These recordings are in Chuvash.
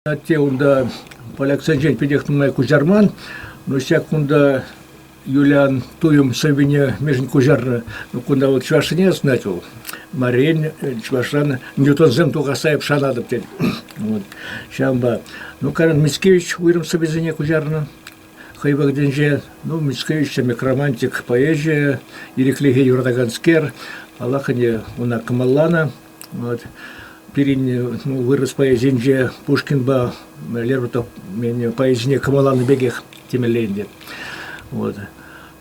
Атте унта поляксенчен питех нумай куҫарман, но ҫак кунта Юлиан туйӑм сӑввине мӗшӗн куҫарнӑ. Ну, кунта вот чӑвашсене знать вӑл. Марин чӑвашран Ньютонсем тухасаеп шанатӑп тет. Вот. Ҫавӑнпа. Ну, Карен Мицкевич уйрӑм сӑввисене куҫарнӑ. Хӑй вӑхӑтӗнче ну мӗскӗ ӳссе микромантик поэзийӗ ирӗклӗхе юратаканскер, паллах, ӗне ӑна кӑмӑлланӑ. Вот. Пирӗн ну, вырӑс поэзинче Пушкинпа Лермонтов поэзине кӑмӑлланӑ пекех темелле ӗнтӗ. Вот.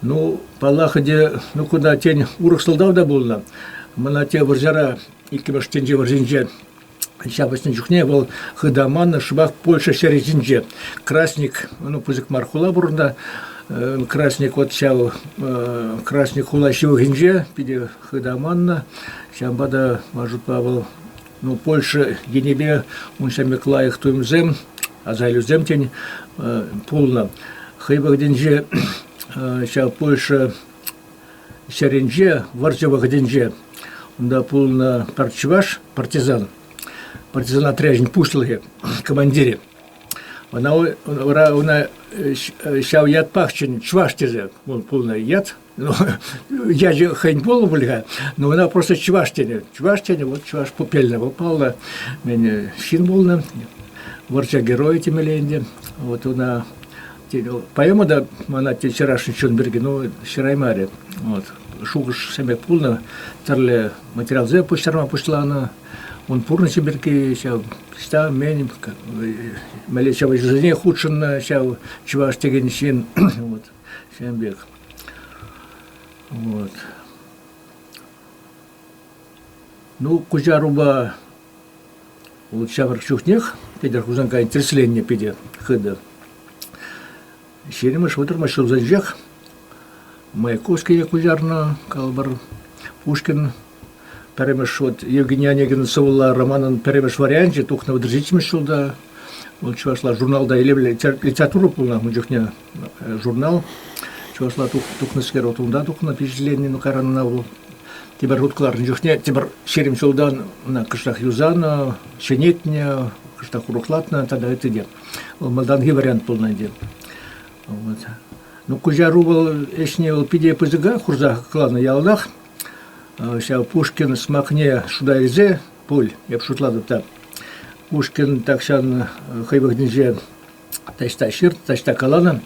Ну, паллах ӗнтӗ, ну кунта тен урӑх сӑлтав та пулнӑ. Мана те вӑрҫара, иккӗмӗш тӗнче вӑрҫинче Ҫапӑҫнӑ чухне вӑл хытаман шӑпах Польша ҫӗрӗ ҫинче. Красник, ну пысӑк мар хула пурӑннӑ. Красник вот ҫав Красник хула ҫывӑхӗнче питӗ хытаманнӑ. Ҫавӑнпа та, ман шутпа, вӑл ну Польша енӗпе ун ҫамрӑк лайӑх туйӑмсем, асаилӳсем тен пулнӑ. Хӑй вӑхӑтӗнче ҫав Польша ҫӗрӗнче, вӑрҫӑ вӑхӑтӗнче унта пулнӑ пӗр чӑваш партизан, партизан отрячӗн пуҫлӑхӗ, командирӗ. Ӑна, ӑна ҫав ятпах чӑн чӑваш тесе пулнӑ ят. Ну, ячӗ хӑйӗн пулнӑ пуль-ха, но ӑна просто чӑваш тенӗ. Чӑваш тенӗ, вот чӑваш пупелне попалла. Ҫын пулнӑ, вӑрҫа геройӗ темелле ӗнтӗ. Вот ӑна Тен, поэма та мана те чӑрашӑн чун пирки, ну, ҫыраймарӗ. Вот. Шухӑш-сӗмет пулнӑ, тӗрлӗ материалсем пуҫтарма пуҫланӑ. Ун пурнӑҫӗ пирки ҫав, ӑҫта мен, мӗнле ҫапӑҫусене хутшӑннӑ ҫав чӑваш текен ҫын, вот, ҫын пек. Вот. Ну, куҫарупа вот ҫамрӑк чухнех Петӗр Хусанкайӑн тӗрӗсленнӗ питӗ хытӑ. Ҫирӗмӗш вӑтӑрмӗш ҫулсенчех Маяковский куҫарнӑ калӑпӑр. Пушкин пӗрремӗш вот Евгений Онегин сӑвӑлла романӑн пӗрремӗш варианчӗ тухнӑ вӑтӑр ҫиччӗмӗш ҫулта. Вӑл чӑвашла журналта илемлӗ литература пулнӑ ун чухне. журнал чӑвашла тухнӑскер вот унта тухнӑ впечатлени ну кайран ӑна вӑл тепӗр хут кӑларнӑ чухне тепӗр ҫирӗм ҫултан ӑна кӑштах юсанӑ ҫӗнетнӗ кӑштах урӑхлатнӑ тата ытти те вӑл малтанхи вариант пулнӑ ӗнтӗ вот. ну куҫару вӑл ӗҫне вӑл питӗ пысӑка хурса кӑларнӑ яланах ҫав пушкин смакне шута илсе пуль эп шутлатӑп та пушкин тахҫан хӑй вӑхӑтӗнче таҫта ҫырт, таҫта каланӑ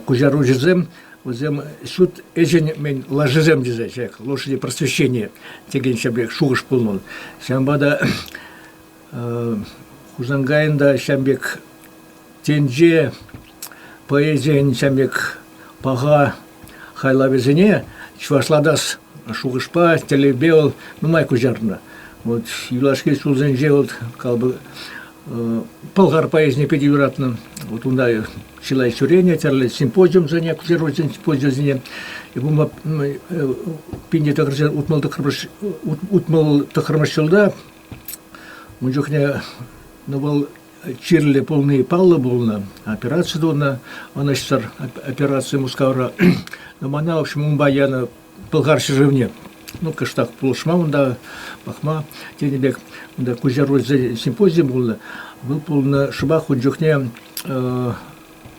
куҫаруҫӑсем вӗсем ҫут ӗҫӗн мӗн лашисем тесе ҫак лошади просвещения текен ҫӗрпех шухӑш пулман. Ҫавӑнпа та Хусанкайӑн та ҫавӑн пек тӗнче поэзийӗн ҫавӑн пек паха хайлавӗсене чӑвашлатас шухӑшпа тӗллевпе вӑл нумай куҫарнӑ. Вот юлашки ҫулсенче вӑл Пӑлхар поэзине питӗ юратнӑ. Вот унта чылай ҫӳренӗ, тӗрлӗ симпозиумсене, ксероксен симпозиумсене. Бумба пинне тӑхӑрҫа утмӑл тӑххӑрмӗш утмӑл тӑххӑрмӗш ҫулта ун чухне ну вӑл чирлӗ пулни паллӑ пулнӑ, операци тунӑ, ӑнӑҫсӑр операци Мускавра. Но мана, в общем, унпа янӑ Пӑлхар ҫӗршывне ну, кӑштах пулӑшма унта пӑхма тенӗ пек унта Куҫаруль симпозиум пулнӑ. Вӑл пулнӑ шӑпах ун чухне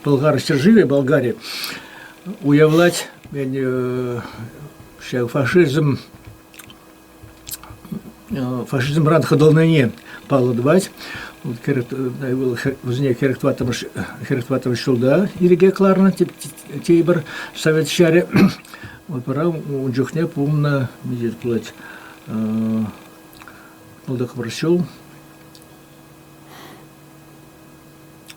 Пӑлхар ҫӗршывӗ Болгари уявлать ҫав фашизм фашизмран хӑтӑлнине паллӑ тӑвать. Вӑл кӗрӗк тӑваттӑмӗш ҫулта ирӗке кӑларнӑ тепӗр совет ҫарӗ. Опера ун чухне пулнӑ миҫе пулать пӑлтӑкмӑш ҫул.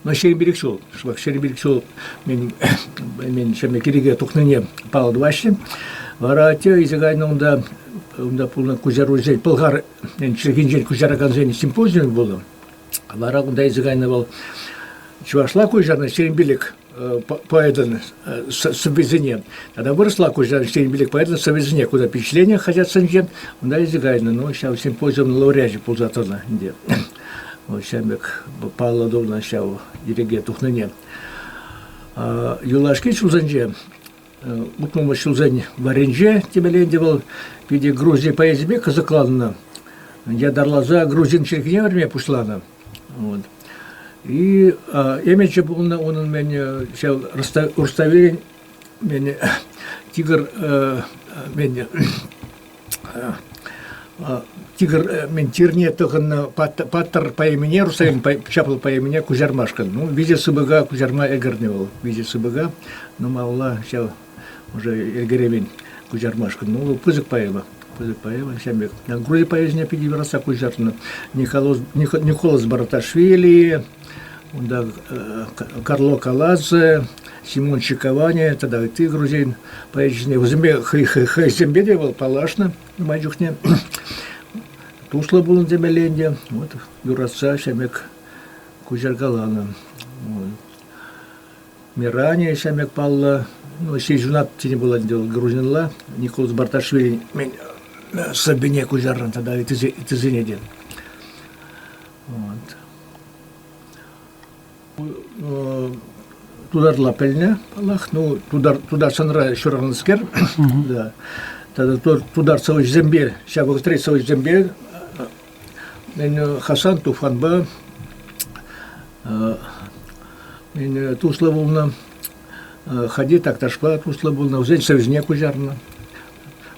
Но ҫирӗм пилӗк ҫул, шӑпах ҫирӗм пилӗк ҫул мин, мин ҫӗмӗ кирӗке тухнине паллӑ тӑваҫҫӗ. Вара те исе кайнӑ унта, унта пулнӑ куҫаруҫсен, Пӑлхар чӗлхинчен куҫаракансен симпозиум пулнӑ. Вара кунта исе кайнӑ вӑл чӑвашла куҫарнӑ ҫирӗм пилӗк поэтӑн сӑввисене. Тата вырӑсла куҫаран ҫтен билек поэтӑн сӑввисене куда впечатление хотят сынчен, унта ӗҫе кайнӑ, но ҫав симпозиумный лауреачӗ пулса тӑнӑ ӗнтӗ. Вот ҫав пек паллӑ тунӑ ҫав иреке тухнине. Юлашки ҫулсенче утмӑл ҫулсен варринче темеленде вӑл питӗ Грузия поэзипе кӑсӑкланнӑ. Ятарласа грузин чӗлхине вӗрме пуҫланӑ. Вот. И э, эмече пулнӑ унӑн мені ҫав Руставелӗн мені тигр э, мені тигр мен тирне тӑхӑннӑ паттӑр по имени Рустамин ҫапла по имени Кузярмашкӑн. Ну, виҫе сыпӑка Кузярма ӗгӗрнӗ вӑл. Виҫе сыпӑка. Ну, малла ҫав уже эгеревен куҫармашкӑн. Ну, пысӑк поэма. Пысӑк поэма ҫав пек. Грузия поэзине питӗ вырасса куҫартнӑ Николоз, Николас Бараташвили, унта Карло Калазе, Симон Чиковани тата ытти грузин поэчӗсене вӗсемпе хӑйсемпе те вӑл паллашнӑ май чухне туслӑ пулнӑ темелле ӗнтӗ вот юратса ҫамек куҫаркаланӑ Мирание ҫамрӑк паллӑ ҫыхӑнат тени пулать вӑл грузинла. Николас Барташвили мӗн сӑввине куҫарнӑ тата ыттисене те. Вот. Тутарла пӗлнӗ, паллах. Ну, тутар, тутарстанра ҫуралнӑскер. да. Тата тутар сӑвӑҫсемпе, ҫапах трет сӑвӑҫсемпе Хасан Туфанпа туслӑ пулнӑ. Хади Такташпа туслӑ пулнӑ, вӗсен сӑвӑсене куҫарнӑ.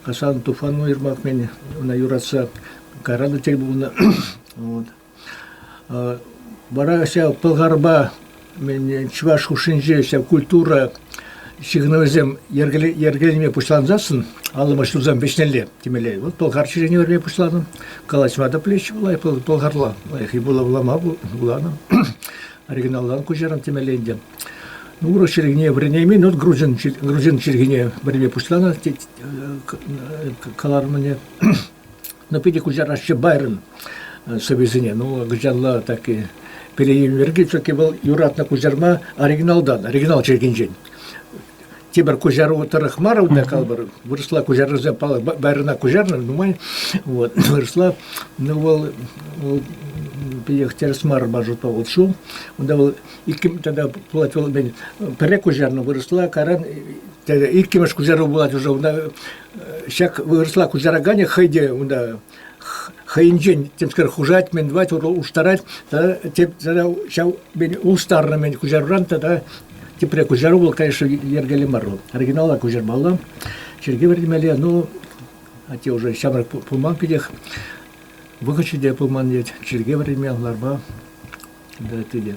Хасан Туфан уйрӑмах ӑна юратса караннӑ тӗл пулнӑ. Вара ҫав Пӑлхарпа чӑваш хушшинче ҫав культура ҫыхӑнӑвӗсем йӗркелеме пуҫлансассӑн аллӑмӑш ҫурсем вӗҫнелле темелле. Вӑл Пӑлхар чӗрине вӗрме пуҫланӑ. Калаҫма та пӗлеҫҫӗ лайӑх Пӑлхарла. Лайӑххи вулама вуланӑ. Оригиналран куҫарам темелле ӗнтӗ. Ну, урӑх чӗлхене вӗренеймен, вот грузин, грузин чӗлхене вӗренме пуҫланӑ каларӑмне. Ну, питӗ куҫараҫҫӗ Байрон э, сӑвисене. Ну, кӑҫалла таки переилнӗ пирки все-таки вӑл юратнӑ куҫарма оригиналтан, оригинал чиркинчен. Тепӗр куҫару тӑрӑх мар удна калбӑр. Вырӑсла куҫарусем Байрона куҫарнӑ, нумай. Вот. Вырӑсла, ну, вӑл, вӑл питех тӗрӗс мар маршрутпа вот шу. Унта вӑл иккӗмӗш тогда пулать вӑл мен пӗрре куҫарнӑ вырӑсла каран иккӗмӗш куҫару пулать уже унта ҫак вырӑсла куҫараканӗ хӑй те унта хӑйӗнчен темскер хушать мӗн тӑвать урлӑ улӑштарать тата теп тата ҫав улӑштарнӑ-мӗн куҫаруран тата тепре куҫару вӑл конечно йӗркеллӗ мар вӑл оригинала куҫармалла чиркӳ вӗртмелле ну а те уже ҫамрӑк пулман питех вӑхӑчӗ те пулман вет чиркӳ вӗртме ларма тытӗ